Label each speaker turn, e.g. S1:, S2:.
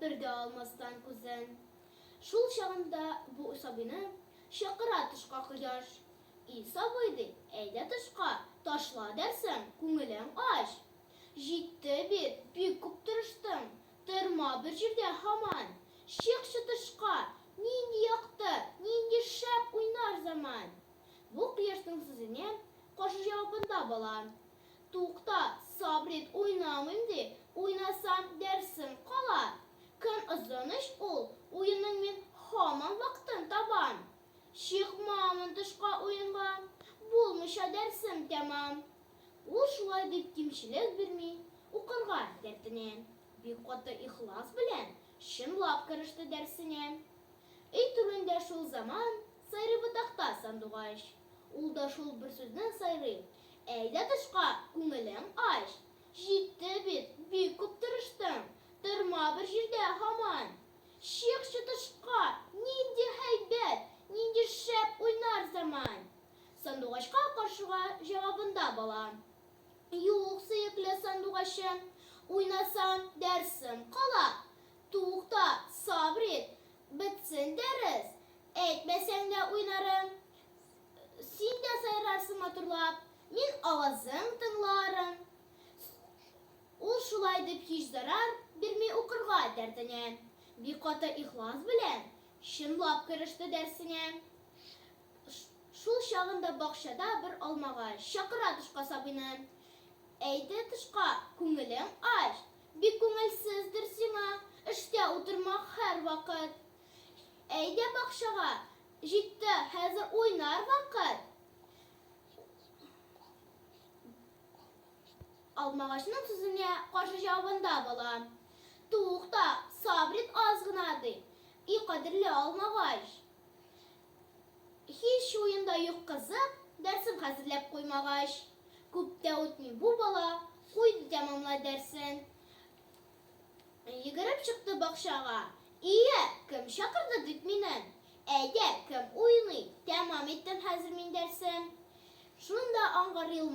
S1: Бер дә алмастан күзен. Шул чагында бу сабыйны Чакыра тышка кояш. И сабый, ди, әйдә тышка, Ташла дәрсең, күңелең ач. Җитте бит, бик күп тырыштың, Торма бер җирдә һаман. Чыкчы тышка, нинди якты, Нинди шәп уйнар заман! Бу кояшның сүзенә Каршы җавабында бала. Тукта, Сабрит, уйнамыйм ди, уйнасам, дәрсем кала. Көн озын ич ул, уенның мин һаман вакытын табам. Чыкмамын тышка уенга, булмыйча дәрсем тәмам. Ул шулай дип кимчелек бирми, укырга дәртенә. Бик каты ихлас белән, чынлап кереште дәрсенә. Өй түрендә шул заман, сайрый ботакта сандугач. Ул да шул бер сүздән сайрый, Әйдә тышка, күңелең ач. Җитте бит, бик күп тырыштың, Торма бер җирдә һаман. Чыкчы тышка, нинди һәйбәт, Нинди шәп уйнар заман! Сандугачка каршыга җавабында бала, Юк, сөекле сандугачым, Уйнасаң, дәрсем кала. Тукта, сабыр ит, бетсен дәрес, Әйтмәсәң дә уйнарым. Син дә сайрарсың матурлап, мин авазың тыңларым. Ул шулай дип һич зарар бирми укырга дәртенә. Бик каты ихлас белән чынлап кереште дәрсенә. Шул чагында бакчада бер алмага чакыра тышка сабыйны. Әйдә тышка, күңелең ач, бик күңелсездер сиңа, эштә утырма һәрвакыт. Әйдә бакчага, җитте хәзер уйнар вакыт. Алмагачның сүзенә каршы җавабында бала. Тукта, сабрит аз гына ди. И кадерле алмагач. Һич уенда юк кызык, дәрсен хәзерләп куймагач. Күп тә үтми бу бала куйды тәмамлай дәрсен. Йөгереп чыкты бакчага. Ие, кем чакырды дип мине? Әйдә, кем уйный? Тәмам иттем хәзер мин дәрсем. Шунда аңгыр елмайды.